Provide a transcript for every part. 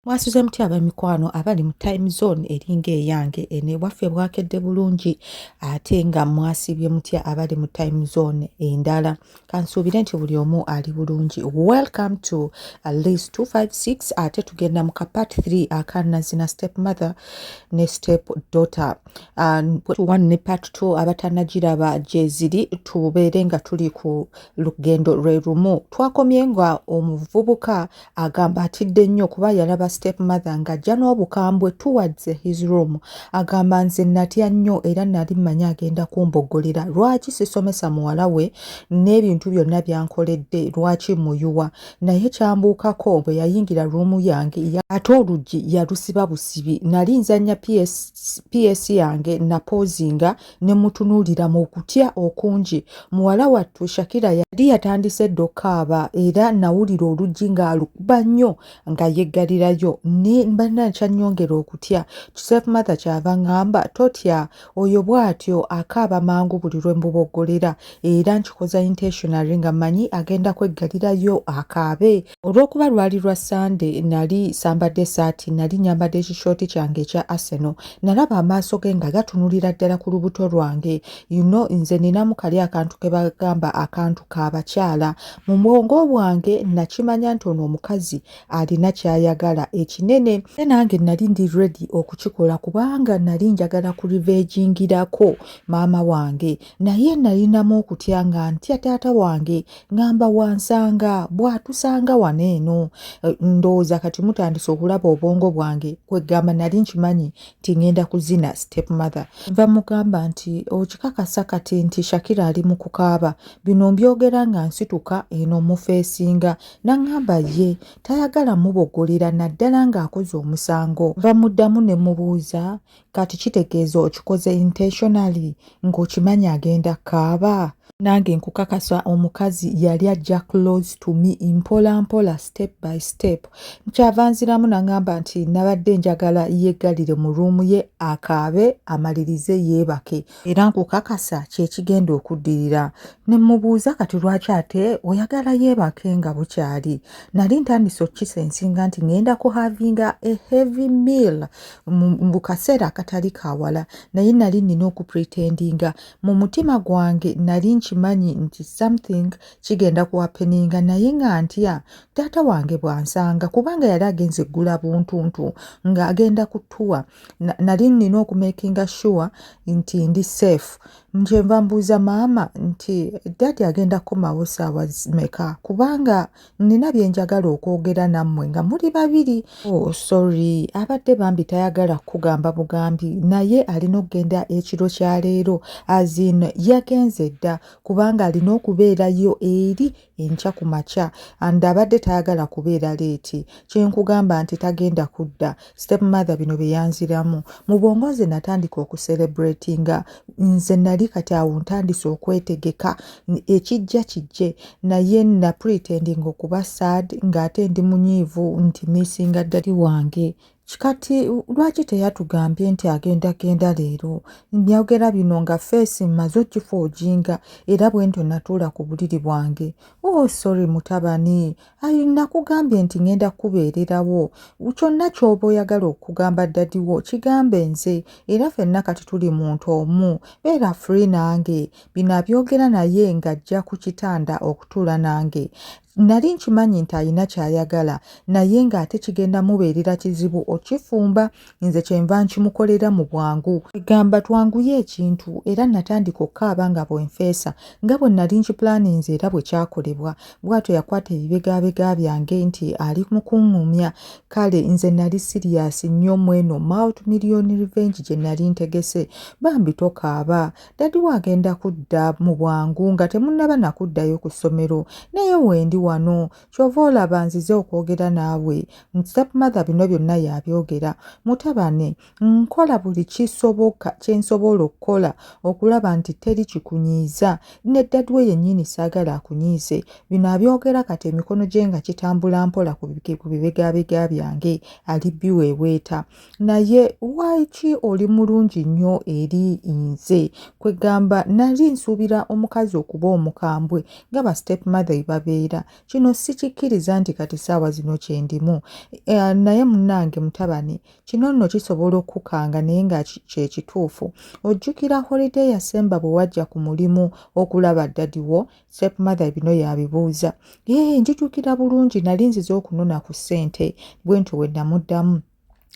mwasuze mutya abamikwano abali mu time zone eringa eyange eno ewaffe bwakedde bulungi ate nga mwasibye mutya abali mu time zone endala kansuubire nti buli omu ali bulungi welcome to lis 256 ate tugenda mu kapat 3 akanazina step mother ne step daughter one ne part 2 abatanagiraba gyeziri tubeere nga tuli ku lugendo lwe lumu twakomye nga omuvubuka agamba atidde nnyo kuba yalaba step mother ng'ajja n'obukambwe towards his room agamba nze natya nnyo era nali mmanyi agenda kumboggolera lwaki sisomesa muwala we n'ebintu byonna byankoledde lwaki muyuwa naye kyambuukako bwe yayingira ruumu yange ate oluggi yalusiba busibi nali nzannya ps yange napoozinga ne mutunuulira mu kutya okungi muwala wattu shakira yali yatandise dda okukaaba era nawulira oluggi ng'alukuba nnyo nga yeggalirayo ne banna nkyanyongera okutya joseph matha kyava ngamba totya oyo bw'atyo akaaba mangu buli lwe mbuboggolera era nkikoza intentionary nga manyi agenda kweggalirayo akaabe olw'okuba lwali lwa sande nali sambadde esaati nali nyambadde ekishooti kyange ekya aseno nalaba amaaso ge nga gatunulira ddala ku lubuto lwange yuno nze ninamu kali akantu ke bagamba akantu k'abakyala mu bwongo bwange nakimanya nti ono omukazi alina ky'ayagala ekinene e nange nali ndi redi okukikola kubanga nali njagala ku livejingirako maama wange naye nalinamu okutya nga ntya taata wange ngamba wansanga bwatusanga wano eno eh, ndowooza kati mutandise okulaba obwongo bwange kwegamba nali nkimanyi nti ngenda kuzina step mother nva mugamba nti okikakasa kati nti shakira ali mu kukaaba bino mbyogera nga nsituka eno mufeesinga nangamba ye tayagala mubogolera naddala ng'akoze omusango nva muddamu ne mubuuza kati kitegeeza okikoze intentionally ng'okimanyi agenda kaaba nange nkukakasa omukazi yali ajja close to me mpola mpola step by step nkyava nziramu nangamba nti nabadde njagala yeggalire mu ruumu ye akaabe amalirize yeebake era nkukakasa kyekigenda okuddirira ne mmubuuza kati lwaki ate oyagala yeebake nga bukyali nali ntandise okukisa ensinga nti ngenda ku havinga a heavy meal mu kaseera akatali kawala naye nali nnina okupretendinga mu mutima gwange nali nkimanyi nti something kigenda kuwapeninga naye nga ntya taata wange bwansanga kubanga yali agenze eggula buntuntu ng'agenda kutuwa nali nnina okumakinga sure nti ndi safe njenva mbuuza maama nti dadi agenda kukomawo saawa meka kubanga nnina byenjagala okwogera nammwe nga muli babiri oh, sorry abadde bambi tayagala kukugamba bugambi naye alina okugenda ekiro kya leero azin yagenze dda kubanga alina okubeerayo eri enkya ku makya and abadde tayagala kubeera leeti kyenkugamba nti tagenda kudda step mother bino byeyanziramu mu bwongo nze natandika okuserebratinga nze nali kati awo ntandise okwetegeka ekijja kijje naye napretendinga okuba sad ng'ate ndi munyiivu nti missinga ddali wange kikati lwaki teyatugambye nti agenda genda leero nyogera bino nga feesi mmaze okifa ojinga era bwe ntyo natuula ku buliri bwange o oh, sorry mutabani ayi nakugambye nti ngenda kukubeererawo kyonna kyoba oyagala okugamba ddadiwo kigambe nze era fenna kati tuli muntu omu beera free nange bino abyogera naye ng'ajja ku kitanda okutuula nange Nali nkimanyi nti alina ky'ayagala naye ng'ate kigenda mubeerera kizibu okifumba nze kyenva nkimukolera mu bwangu. Egamba twanguye ekintu era natandika okukaaba nga bwenfeesa nga bwe nali nkipulaaninze era bwe kyakolebwa. Bwatyo yakwata ebibegabega byange nti ali mu kung'umya. Kale nze nali siriyaasi nnyo mweno multimillion revenge gye nali ntegese. Bambi tokaaba. dadi we agenda kudda mu bwangu nga temunnaba nakuddayo ku ssomero naye wendi wano kyova olaba nzize okwogera naawe stepmother bino byonna yabyogera mutabane nkola buli kisoboka kyensobola okukola okulaba nti teri kikunyiiza ne dadi we yennyini saagala akunyiize bino abyogera kati emikono gye nga kitambula mpola ku bibegabega byange ali biweeweeta naye lwaki oli mulungi nnyo eri nze kwegamba nali nsuubira omukazi okuba omukambwe nga ba step mother ebabeera kino sikikkiriza nti kati saawa zino kyendimu e, naye munange mutabani kino nno kisobola okukanga naye nga kyekituufu ojjukira holiday yasemba bwe wajja ku mulimu okulaba dadiwo stepmother bino yabibuuza ee njijukira bulungi nali nzize okunona ku ssente bwe ntyo we namuddamu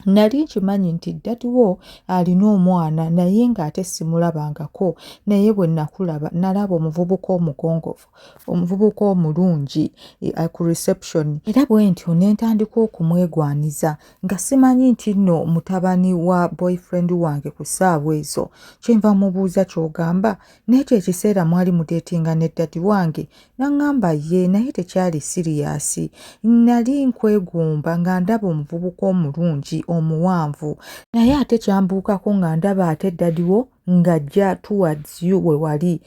nali nkimanyi nti ddadiwo alina omwana naye ng'ate simulabangako naye bwe nakulaba nalaba omuvubuka omugongovu omuvubuka omulungi eh, eh, ku reception era bwe ntyo ne ntandika okumwegwaniza nga simanyi nti nno mutabani wa boyfriend wange ku ssaawa ezo kyenva mubuuza ky'ogamba n'ekyo ekiseera mwali mudeetinga ne ddadi wange n'aŋŋamba ye naye tekyali siriyaasi nnali nkwegomba nga ndaba omuvubuka omulungi omuwanvu naye ate kyambuukako nga ndaba ate ddadi wo ng'ajja towards you we wali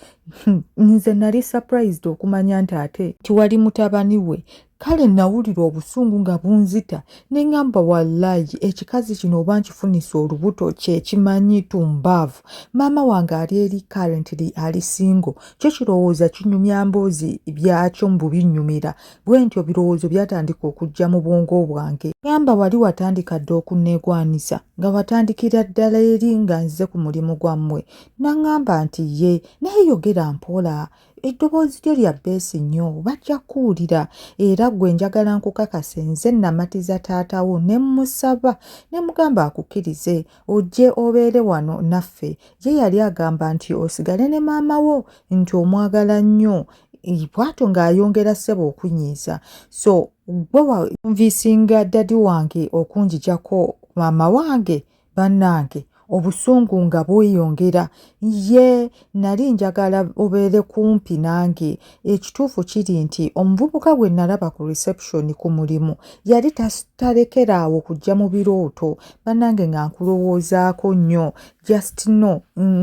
nze nali surprised okumanya nti ate tiwali mutabani we kale nawulira obusungu nga bunzita ne ŋamba wallayi ekikazi kino oba nkifunisa olubuto kyekimanyi tumbaavu maama wange ali eri currently ali singo kyo kirowooza kinyumya mboozi byakyo mu bubinnyumira bwe ntyo birowoozo byatandika okujja mu bwongo bwange ŋamba wali watandika dda okunneegwanisa nga watandikira ddala eri nga nze ku mulimu gwammwe naŋamba nti ye naye yogera mpola eddoboozi lyo lya beesi nnyo bajja kuwulira era gwe njagala nkukakase nze namatiza taatawo ne mmusaba ne mugamba akukkirize ojje obeere wano naffe ye yali agamba nti osigale ne maama wo nti omwagala nnyo bwatyo ng'ayongera ssebo okunyiiza so gwe wanviisinga dadi wange okunjijako maama wange bannange obusungu nga bweyongera ye nali njagala obeere kumpi nange ekituufu kiri nti omuvubuka gwe nalaba ku reception ku mulimu yali talekera awo kujja mu birooto bannange nga nkulowoozaako nnyo just no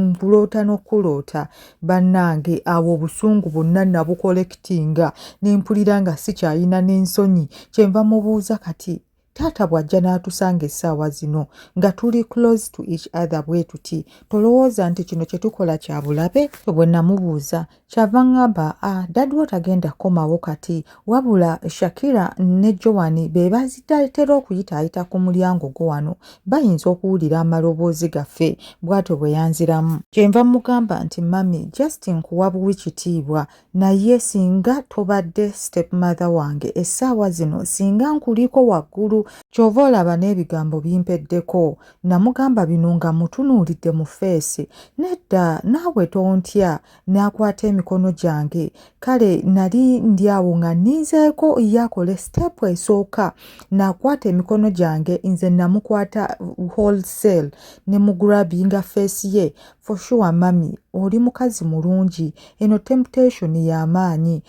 nkuloota n'okuloota bannange awo obusungu bonna nabukolekitinga ne mpulira nga sikyalina n'ensonyi kyenva mubuuza kati taata bw'ajja n'atusanga essaawa zino nga tuli close to each other bwe tuti tolowooza nti kino kye tukola kya bulabe bwe namubuuza kyava ŋŋamba a ah, dadiwo tagenda kukomawo kati wabula shakira ne joani be bazitatera okuyitaayita ku mulyango gwo wano bayinza okuwulira amaloboozi gaffe bw'atyo bwe yanziramu kyenva mugamba nti mami justin kuwa buwi kitiibwa naye singa tobadde step mother wange essaawa zino singa nkuliko waggulu kyova olaba n'ebigambo bimpeddeko namugamba bino nga mutunuulidde mu feesi nedda naawe tontya n'akwata emikono gyange kale nali ndi awo nga ninzeeko yakole sitepu esooka n'akwata emikono gyange nze namukwata wholesale ne mugurabinga feesi ye For sure mami oli mukazi mulungi eno temptation y'amaanyi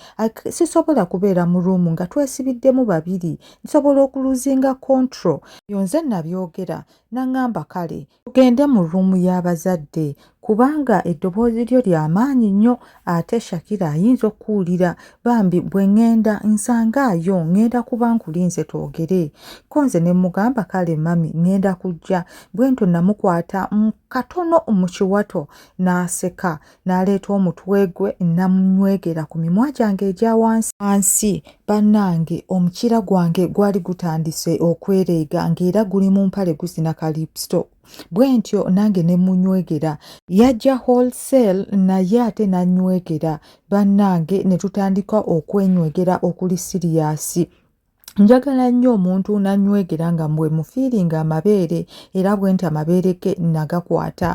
sisobola kubeera mu room nga twesibiddemu babiri nsobola okuluzinga control yo nze nabyogera nangamba kale tugende mu room y'abazadde kubanga eddoboozi lyo lya maanyi nnyo ate shakira ayinza okuwulira bambi bwe ŋŋenda nsangaayo ŋŋenda kuba nkulinze twogere ko nze ne mmugamba kale mami ŋŋenda kujja bwento namukwata katono mu kiwato n'aseka n'aleeta omutwe gwe namunywegera ku mimwa gyange egya wansi wansi bannange omukira gwange gwali gutandise okwereega ng'era guli mu mpale guzina kalipsto bwe ntyo nange ne munywegera yajja wholesale naye ate nanywegera bannange ne tutandika okwenywegera okuli siriyasi njagala nnyo omuntu nanywegera nga mbwe mufiiringa amabeere era bwe nti amabeere ge nagakwata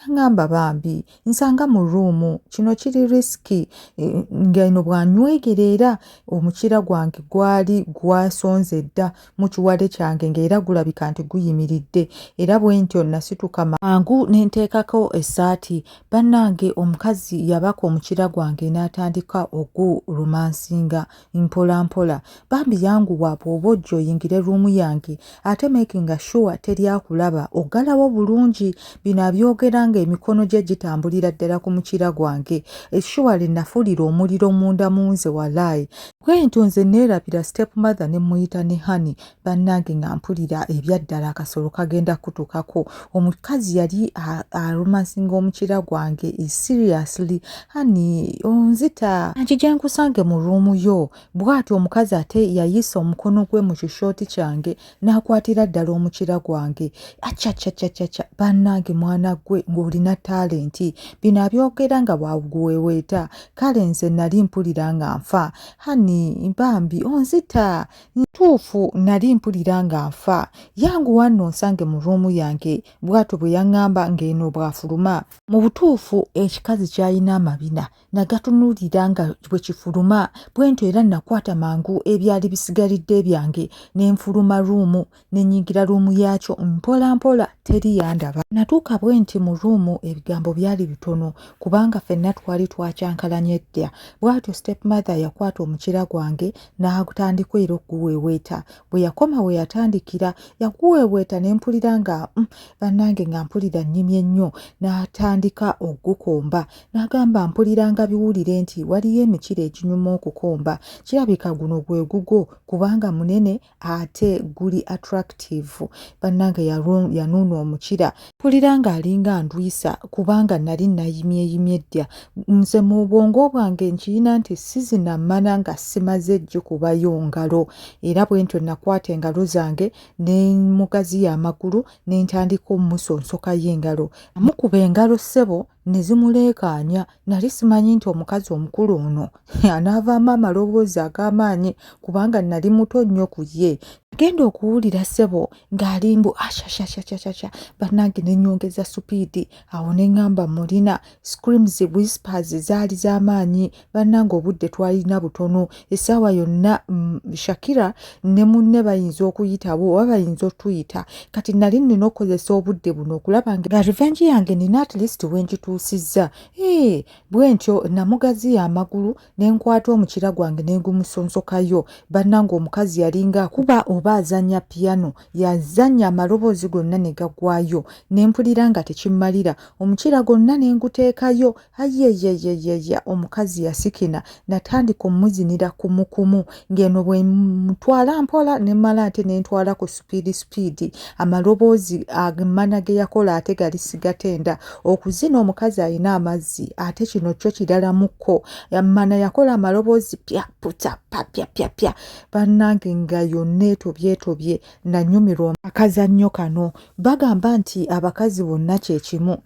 naŋamba bambi nsanga mu ruumu kino kiri risiki e, nga eno bwanywegera era omukira gwange gwali gwasonze dda mu kiwale kyange ngaera gulabika nti guyimiridde era bwe ntyo nasituka mangu nenteekako essaati bannange omukazi yabaka omukira gwange n'atandika ogulumansinga na mpola mpola bambi yanguwa bw'oba ojja oyingire ruumu yange ate makinga shuwa teri akulaba oggalawo bulungi bino abyogera ng'emikono gye gitambulira ddala ku mukira gwange eshuwa lye nafuulira omuliro munda mu nze walaayi bwentyo nze neerabira step mother ne mmuyita ne hani bannange nga mpulira ebyaddala akasolo kagenda kutukako omukazi yali arumansinga omukira gwange e seriously hani onzita nkija nkusange mu ruumu yo bwati omukazi ate yayisa omukono gwe mu kishooti kyange n'akwatira ddala omukira gwange acacacacaca bannange mwana gwe ng'olina talenti bino abyogera nga bwaguweweeta kale nze nali mpulira nga nfa hani bambi onzita ntuufu nali mpulira nga nfa yanguwa nno nsange mu ruumu yange bw'atyo bwe yaŋŋamba ng'eno bw'afuluma mu butuufu ekikazi kyalina amabina nagatunuulira nga bwe kifuluma bwentyo era nakwata mangu ebyali bisigalidde byange ne nfuluma ruumu nenyingira ruumu yaakyo mpola mpola teri yandaba natuuka bwe nti mu ruumu ebigambo byali bitono kubanga fenna twali twakyankalanya edda bwatyo step mother yakwata omukira gwange n'agutandika era okuguweeweeta bwe yakoma we yatandikira yaguweeweeta ne mpulira nga mm, bannange nga mpulira nnyimye nnyo n'atandika okugukomba n'agamba mpulira nga biwulire nti waliyo emikira eginyuma okukomba kirabika guno gwe gugwo kubanga munene ate guli attractive bannange yanuuna omukira mpulira ng'alinga ndwisa kubanga nali nayimyeyimye ddya nze mu bwongo bwange nkiyina nti sizina mmana nga simaze gikubayo ngalo era bwe ntyo nakwata engalo zange ne mugaziya amagulu ne ntandika omusonsokayo engalo amukuba engalo ssebo ne zimuleekaanya Nali simanyi nti omukazi omukulu ono anaavaamu amaloboozi ag'amaanyi kubanga nali muto nnyo ku ye. Genda okuwulira ssebo ng'ali mbu ashashashashasha bannange ne nnyongeza supiidi awo ne ŋŋamba mulina screams whispers zaali z'amaanyi bannange obudde twalina butono essaawa yonna mm, shakira ne munne bayinza okuyitabo oba bayinza otuyita kati nali nina okukozesa obudde buno okulaba nga revenge yange nina at least wengituusizza ee bwentyo namugaziya amagulu nenkwata omukira gwange nengumusonsokayo bannanga omukazi yalinga akuba oba azanya piano yazanya amaloboozi gonna negagwayo nempulira nga tekimmalira omukira gonna nenguteekayo ayeyeyeyeye omukazi yasikina natandika omuzinira kumukumu ng'eno bwe mutwala mpola ne mala ate ne ntwala ku supiidi supiidi amaloboozi agemana ge yakola ate gali sigatenda okuzina omukazi alina amazzi ate kino kyo kiralamuko mana yakola amaloboozi pya puta papya pyapya bannange nga yonna etobyetobye nanyumirwa akazannyo kano bagamba nti abakazi bonna kyekimu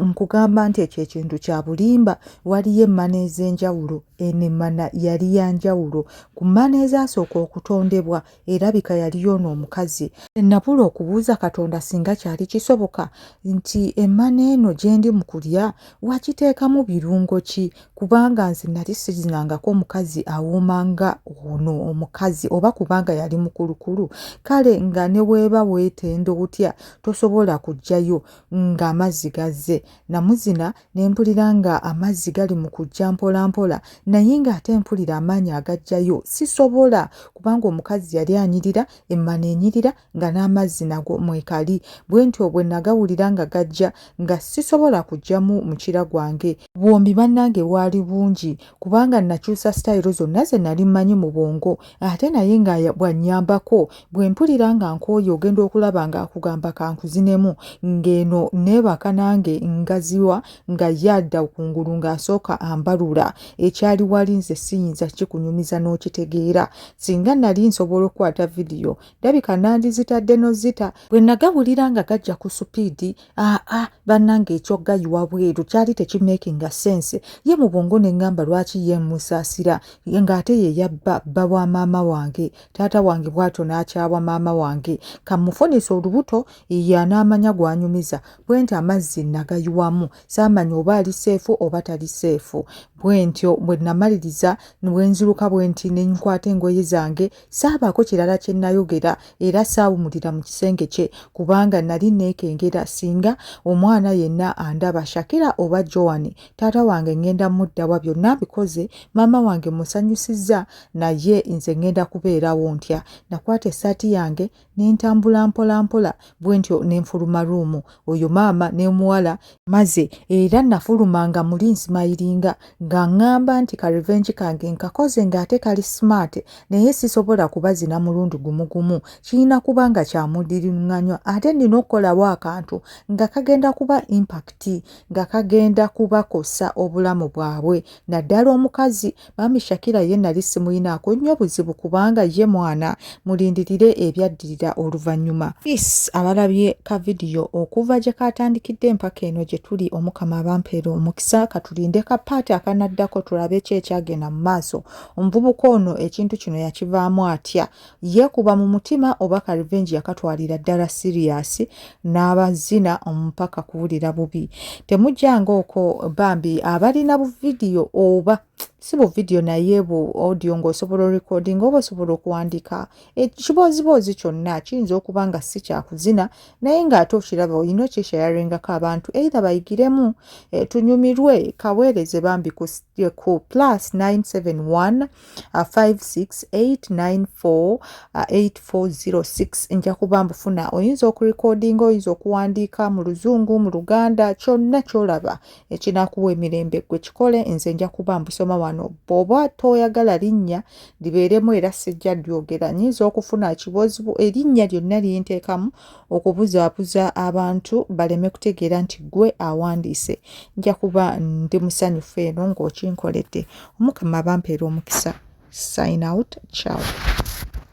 nkugamba nti ekyo ekintu kya bulimba waliyo emmana ez'enjawulo eno emmana yali ya njawulo ku mmana ezasooka okutondebwa erabika yali yoona omukazi nabula okubuuza katonda singa kyali kisoboka nti emmana eno gyendi mu kulya wakiteekamu birungo ki kubanga nze nali sizinangako omukazi awuuma nga ono omukazi oba kubanga yali mukulukulu kale nga ne weeba weetenda otya tosobola kujjayo ng'amazzi gazze namuzina ne mpulira nga amazzi gali mu kujja mpolampola naye ng'ate mpulira amaanyi agajjayo sisobola kubanga omukazi yali anyirira emmana enyirira nga n'amazzi nago mwekali bwe ntyo bwe nagawulira nga gajja nga sisobola kujjamu mukira gwange bwombi bannange bwali bungi kubanga nakyusa sitayiro zonna ze nali mmanyi mu bwongo ate naye nga bwannyambako bwe mpulira nga nkooye ogenda okulaba nga akugamba kankuzinemu ng'eno neebaka nange ngaziwa nga ye adda kungulu ng'asooka ambalula ekyali wali nze siyinza kikunyumiza n'okitegeera singa nali nsobola okukwata vidiyo ndabika nandizitadde nozita bwe nagawulira nga gajja ku supiidi aa ah, ah, bannanga ekyogayiwa bweru kyali tekimakinga sense ye mu bwongo ne ŋŋamba lwaki ye musaasira ng'ate ye yabba bba wa maama wange taata wange bw'atyo n'akyawa maama wange kamufunisa olubuto ye anaamanya gw'anyumiza bwe nti amazzi nagayiwamu saamanya oba ali seefu oba tali seefu bwe ntyo bwe namaliriza bwe nziruka bwe nti ne nkwata engoye zange saabaako kirala kye nnayogera era saawumulira mu kisenge kye kubanga nali neekengera singa omwana yenna andaba shakira oba joan taata wange ŋŋenda muddawa byonna bikoze maama wange musanyusizza naye nze ŋŋenda kubeerawo ntya nakwata essaati yange nentambula mpola mpola bwentyo nenfuluma ruumu oyo maama nemuwala maze era nafuluma nga muli nsimayiringa nga ngamba nti ka revenge kange nkakoze nga ate kali smart naye sisobola kubazina mulundi gumu gumu kirina kuba nga kyamudiringanywa ate nina okukolawo akantu nga kagenda kuba impact nga kagenda kubakosa obulamu bwabwe naddala omukazi Mami Shakira ye nali simuyinaako nnyo buzibu kubanga ye mwana mulindirire ebyaddirira oluvannyuma. Peace abalabye ka vidiyo okuva gye kaatandikidde empaka eno gye tuli omukama abampeera omukisa katulinde ka paati akanaddako tulabe ki ekyagenda mu maaso. Omuvubuka ono ekintu kino yakivaamu atya? yeekuba mu mutima oba ka revenge yakatwalira ddala siriyasi n'abazina omupaka kuwulira bubi temujjanga oko bambi abalina buvidiyo oba si bu video naye bu audio ng'osobola orecording oba osobola okuwandiika ekibooziboozi eh, kyonna kiyinza okuba nga si kyakuzina naye ng'ate okiraba olina okyeshayarengako abantu eitha bayigiremu eh, tunyumirwe kaweereze bambi ku gye ku plus 97156894840 nja kuba mbufuna oyinza okurekodinga oyinza okuwandiika mu luzungu mu luganda kyonna kyolaba ekinakuwa emirembe gwe kikole nze nja kuba mbusoma wano bwoba toyagala linnya libeeremu era sijja lyogera nyinza okufuna ekibozibu erinnya lyonna lyenteekamu okubuzaabuza abantu baleme kutegeera nti ggwe awandiise nja kuba ndi musanyufu eno ng'okinkoledde omukama abampeera omukisa sign out ciao